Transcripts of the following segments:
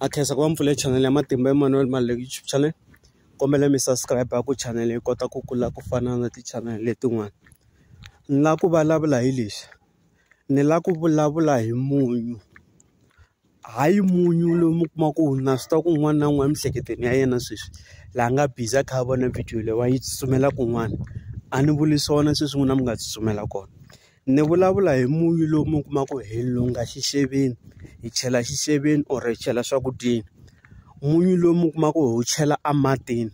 a khensa ku va mpfule channel ya matimba Emmanuel Maluleke YouTube channel kombela mi subscribe ku channel yi kota ku kula ku fana na ti-channel letin'wana ni la ku vulavula hi lexi ni la ku vulavula hi munyu hayi munyu lowu mi kuma ku na swi tiva ku un'wana na un'wana emiehleketweni ya yena sweswi laha nga busy a kha a vona video leyi wa yi tsutsumela kun'wana a ni vuli swona sweswi n'wina mi nga tsutsumela kona. Ni vulavula hi munyu lowu mi kuma ku hi lunga xixeveni hi chela xixeveni or hi chela swakudyeni munyu lowu mi kuma ku hi wu chela a matini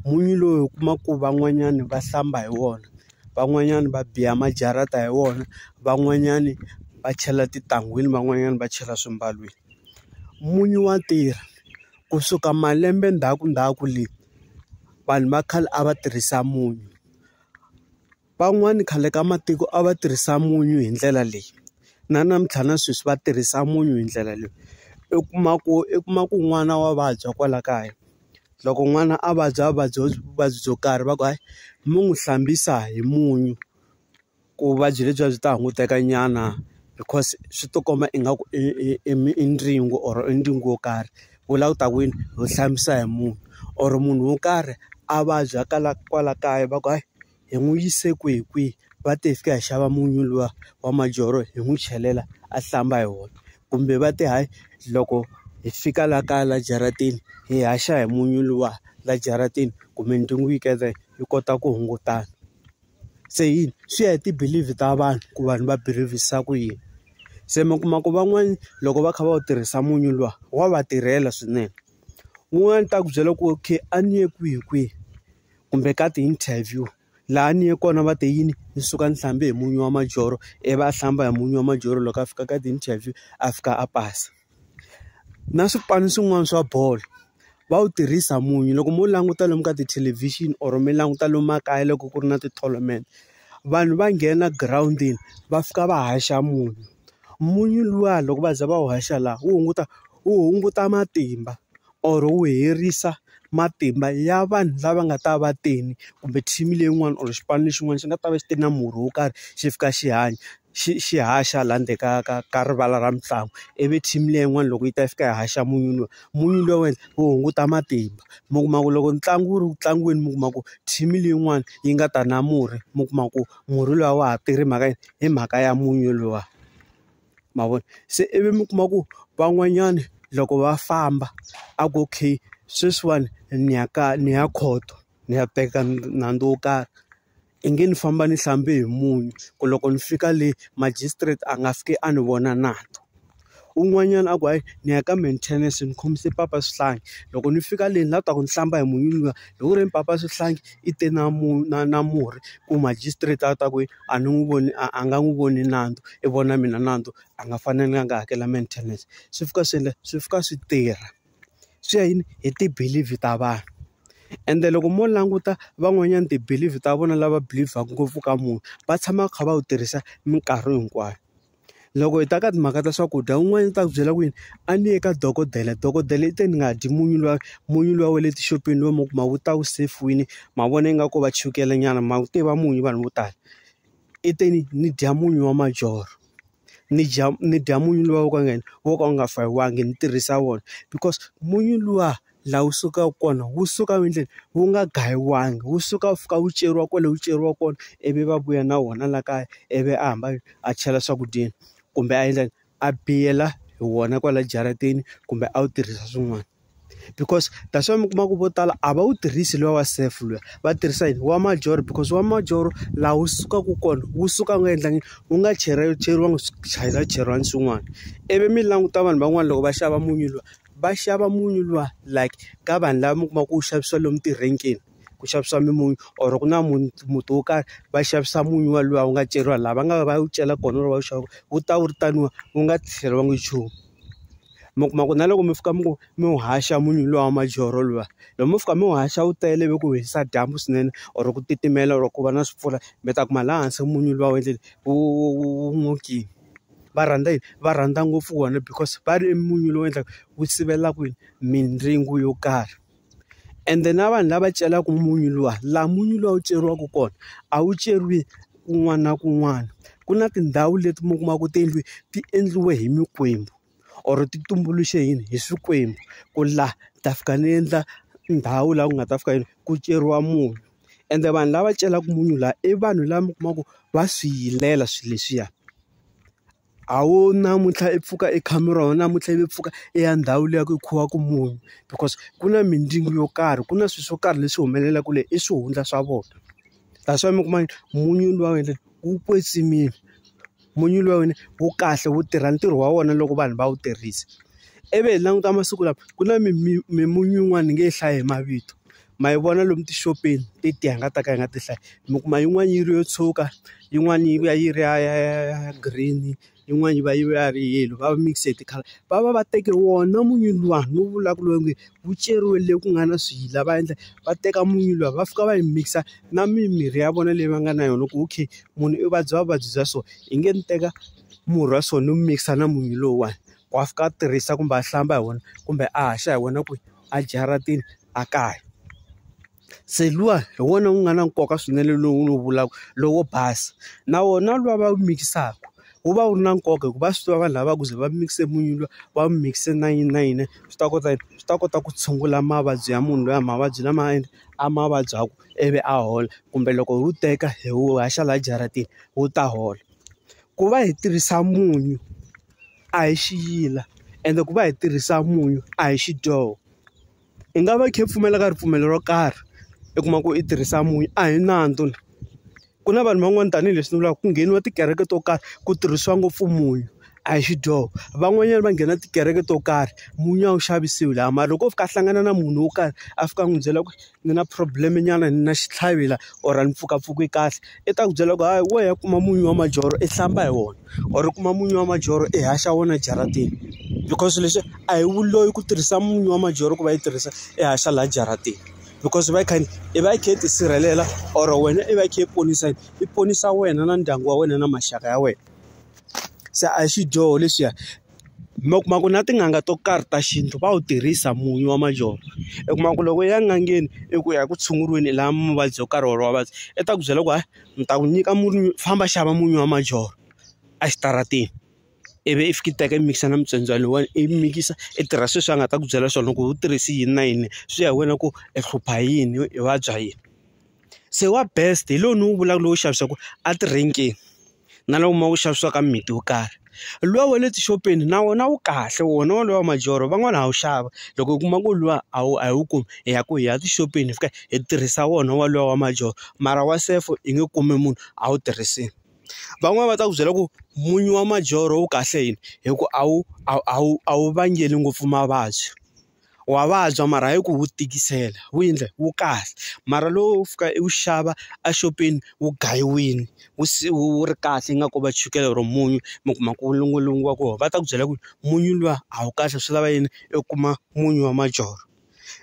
munyu lowu hi kuma ku van'wanyani va hlamba hi wona van'wanyani va biya majarata hi wona van'wanyani va chela titangwini van'wanyani va chela swimbalwini munyu wa tirha kusuka malembe ndzhaku ndzhaku le vanhu va khale a va tirhisa munyu. Van'wani khale ka matiko a va tirhisa munyu hi ndlela leyi, na namuntlha na sweswi va tirhisa munyu hi ndlela leyi. I kuma ku i kuma ku n'wana wa vabya kwala kaya, loko n'wana a vabya a vabya vuvabyi byo karhi va ku hayi mi n'wi hlambisa hi munyu ku vuvabyi lebyiya byi ta hungutekanyana because swi ti komba ingaku i i i i ndzingo or i ndzingo wo karhi. Ku vula ku ta ku yini? Ho hlambisa hi munyu or munhu wo karhi a vabya kwala kaya va ku hayi. hi n'wi yise kwihi kwihi va te hi fika hi xava munyu luwa wa majoro hi n'wi chelela a hlamba hi wona kumbe va te hayi loko hi fika la kaya la jaratini hi haxa hi munyu luwa la jaratini kumbe ntungu yi yi kota ku hungutana se yini swi ya hi ti-belief ta vanhu ku vanhu va believe-sa ku yini se mi kuma ku van'wani loko va kha va wu tirhisa munyu luwa wa va tirhela swinene wun'wani ta ku byela ku okay a ni ye kwihi kwihi kumbe ka ti-interview. Laha ni ye kona va te yini ni suka ni hlambe hi munyu wa majorho, ivi a hlamba hi munyu wa majorho loko a fika ka ti-interview a fika a pasa. Na swipanu swin'wana swa bolo, va wu tirhisa munyu loko mo languta lomu ka tithelevhixini or mi languta lomu makaya loko ku ri na ti-tournament. Vanhu va nghena girawundini va fika va haxa munyu. Munyu luwa loko va za va wu haxa laha, wu hunguta wu hunguta matimba or wu herisa matimba ya vanhu lava nga ta va tele kumbe team leyin'wani or xipano lexin'wana xi nga ta va xi te na murhi wo karhi xi fika xi hanya xi xi haxa laha ndzeni ka ka ka rivala ra mitlangu ivi team liya yin'wana loko yi ta fika yi haxa munyu luwa munyu luwa wa endla wu hunguta matimba mi kuma ku loko ntlangu wu ri ku tlangiweni mi kuma ku team leyin'wani yi nga ta na murhi mi kuma ku murhi luwa a wa ha tirhi hi mhaka yini hi mhaka ya munyu luwa. ma vona se ivi mi kuma ku van'wanyana loko va famba a ku okay sweswiwani ni ya ka ni ya khoto ni ya teka nandzu wo karhi i nge ni famba ni hlambe hi munyu ku loko ni fika le magistrate a nga fiki a ni vona nandzu un'wanyana a ku hayi ni ya ka maintenance ni khomise papa swihlangi loko ni fika le ni la ku ta ku ni hlamba hi munyu luwa loko ku ri papa swihlangi i te na na na murhi ku magistrate a ta ku . a ni n'wi voni a a nga n'wi voni nandzu i vona mina nandzu a nga fanelanga a hakela maintenance swi fika swi endla swi fika swi tirha swi ya yini hi ti-believe ta vanhu ende loko mo languta van'wanyana ti-believe ta vona lava believe-vhaku ngopfu ka munhu va tshama va kha va wu tirhisa minkarhi hinkwayo. Loko hi ta ka timhaka ta swakudya un'wana u ta ku byela ku yini a ni ye ka dokodela dokodela i te ni nga dyi munyu luwa munyu luwa wa le tixopeni lowu mi wu kumaka wu ta wu sefiwini ma vona ingaku va chukele nyana ma wu tiva munyu vanhu vo tala i te ni ni dya munyu wa majorho ni dya ni dya munyu luwa wo ka wu nga yini wo ka wu nga fayiwanga ni tirhisa wona because munyu luwa. laha wu sukaka kona wu suka endleni wu nga gayiwangi wu suka wu fika wu ceriwa kwale wu ceriwa kona ivi va vuya na wona la kaya ivi a hamba a chela swakudyeni kumbe a endla a biyela hi wona kwala jaratini kumbe a wu tirhisa swin'wana because that's why mi kuma ku vo tala a va wu tirhisi luwa wa safe luya va tirhisa yini wa majoro because wa majoro laha wu sukaka kona wu suka wu nga endlangi wu nga cheriwanga cheriwanga swin'wana ivi mi languta vanhu van'wana loko va xava munyu luwa. va xava munyu luwa like ka vanhu lava mi kuma ku wu xavisiwa lomu tirenkeni ku xavisiwa mimunyu or ku na muti muti wo karhi va xavisa munyu wa luwa wu nga ceriwa laha va nga va wu cela kona or va wu xava kona wu ta wu ri taniwa wu nga tlheriwangi nchumu mi kuma ku na loko mi fika mi ku mi wu haxa munyu luwa wa majoro luwa loko mo fika mi wu haxa wu tele ivi ku hisa dyambu swinene or ku titimela or ku va na swi mpfula mi ta kuma laha hansi munyu luwa wu endleni wu wu wu n'okini. va rhandza yini va rhandza ngopfu wona because va ri i munyu lowu endlaka wu sivela kwini mindyangu yo karhi ende na vanhu lava celaka munyu luwa laha munyu luwa wu ceriwaka kona a wu ceriwi kun'wana na kun'wana ku na tindhawu leti mi kumaka tiyindlu ti endliwe hi mikwembu. or ti tumbuluxe yini hi swikwembu ku la ni ta fika ni endla ndhawu laha ku nga ta fika yini ku ceriwa munyu ende vanhu lava celaka munyu laha i vanhu lava mi kuma ku va swi hilela swilo leswiya a wu namuntlha i pfuka i kha mi rona namuntlha i pfuka i ya ndhawu liya ku khiwaka munyu because ku na mindyangu yo karhi ku na swilo swo karhi leswi humelelaka le i swihundla swa vona that's why mi kuma munyu luwa wu kwetsimile. Munyu lowu wu kahle wu tirha ntirho wa wona loko vanhu va wu tirhisa. Ivi hi languta masiku lawa ku na mimunyu yin'wana ni nge yi hlayi hi mavito, ma yi vona lomu tixopeni i tiya hi nga ta ka hi nga ti hlayi. Mi kuma yin'wana yi ri yo tshwuka, yin'wana yi va yi ri ya ya ya ya ya green-i, yin'wana yi va yi va yi ri yellow, va mix-e hi ti-colour. Va va va teke wona munyu luwani ni wu vulaka lowu nge ku ceriwe le ku nga na swiyila va endla va teka munyu luwa va fika va yi mikisa na mimirhi ya vona leyi va nga na yona ku okay munhu i vabya vuvabyi bya so hi nge ni teka murhi wa so ni wu mikisa na munyu lowuwani wa fika a tirhisa kumbe a hlamba hi wona kumbe a haxa hi wena kwihi a jaratini a kaya. Se luwa hi wona wu nga na nkoka swinene lowu ni wu vulaka lowo basa na wona luwa va wu mikisaka wu va wu ri na nkoka hikuva va swi tiva vanhu lava ku ze va mikise munyu luwa va wu mikise na yini na yini swi ta kota yini swi ta kota ku tshungula mavabyi ya munhu loyi mavabyi lama a yini a ma vabyaka ivi a hola kumbe loko hi wu teka hi wu haxa laha jaratini wu ta hola ku va hi tirhisa munyu a hi xiyila ende ku va hi tirhisa munyu a hi xidyoho. i nga va i kha i pfumela ka ripfumelo ro karhi i kuma ku i tirhisa munyu a hi nandzu ni ku na vanhu van'wani tanihileswi ni vulaka ku ngheniwa tikereke to karhi ku tirhisiwa ngopfu munyu a hi xidyoho van'wanyana va nghena tikereke to karhi munyu a wu xavisiwi laha mara loko o fika a hlangana na munhu wo karhi a fika a n'wi byela ku ni na problem nyana ni na xitlhavi la or ni pfukapfuke kahle. i ta ku byela ku hayi wo ya kuma munyu wa majorho i hlamba hi wona or u kuma munyu wa majorho i haxa wona jaratini because leswi a hi wu loyi ku tirhisa munyu wa majorho ku va yi tirhisa i haxa laha jaratini because va yi kha i va yi kha yi tisirhelela or wena i va yi kha yi ponisa i ponisa wena na ndyangu wa wena na maxaka ya wena se a hi xidyoho lexiya. mi kuma ku na tin'anga to karhi ta xintu va wu tirhisa munyu wa majoni u kuma ku loko u ya n'angeni i ku ya ku tshunguriweni laha muvabyi yo karhi or vavabyi i ta ku byela ku hayi ni ta ku nyika munyu famba xava munyu wa majoni exitarateni ivi i fika i teka i mikisa na mutsotswana lowuwani i mikisa i tirha sweswi a nga ta ku byela swona loko u tirhise yini na yini swi ya hi wena ku i hlupha hi yini i vabya yini. Se wa best hi lowu ni wu vulaka lowu xavisaka a ti-rank-ini na lowu ma wu xavisiwaka mimiti yo karhi luwa wa le tixopeni na wona wu kahle wona wolowo wa majoro van'wani ha wu xava loko u kuma ku luwa a wu a hi wu kumi hi ya ku hi ya tixopeni hi fika hi tirhisa wona wa luwa wa majoro mara wa sefo hi nge kumi munhu a wu tirhisile van'wani va ta ku byela ku munyu wa majoro wu kahle yini hi ku a wu a wu a wu a wu vangeli ngopfu mavabyi. wa vabya mara hayi ku wu tikisela wu endla wu kahle mara lowu wo fika i wu xava exopeni wu gayiwile wu se wu wu ri kahle ingaku va chukele or munyu mi kuma ku longolongiwa kona va ta ku byela ku munyu luwa a wu kahle swi lava yini u kuma munyu wa majoro,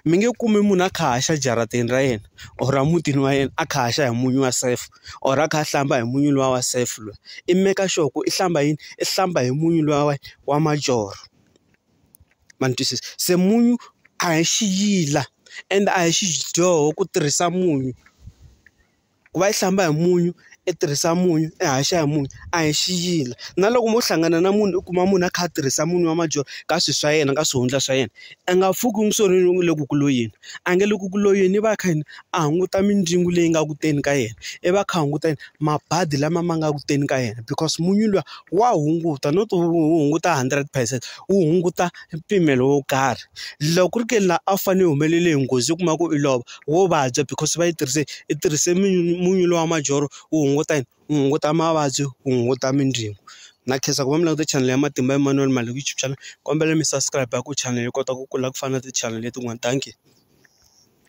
mi nge kumi munhu a kha a haxa ejaratini ra yena or a mutini wa yena a kha a haxa hi munyu wa safe or a kha a hlamba hi munyu luwa wa safe loyi i make sure ku i hlamba yini i hlamba hi munyu luwa wa majoro. ma ni twisisa se munyu a hi xiyila ende a hi xidyoho ku tirhisa munyu ku va yi hlamba hi munyu i tirhisa munyu i haxa hi munyu a hi xiyila na loko mo hlangana na munhu u kuma munhu a kha a tirhisa munyu wa madyondza ka swilo swa yena ka swihundla swa yena a nga pfuki n'wi swo yini a nge le ku ku loyeni i va a kha yini a hunguta mindzwingo leyi nga ku teni ka yena i va a kha a hunguta yini mabadi lama ma nga ku teni ka yena because munyu luwa wa hunguta no to wu hunguta hundred percent wu hunguta mpimelo wo karhi loko ku ri ke ni la a wu fanele u humelele hi nghozi u kuma ku i lova wo vabya because va yi tirhise i tirhise munyu luwa majoro wu hunguta yini wu hunguta mavabyi wu hunguta mindzwingo na khensa ku va mi languta chanele ya Matimba Emmanuel Maloyi YouTube channel kombela mi subscribe ku chanele yi kota ku kula ku fana na ti-chanel letin'wana dankie.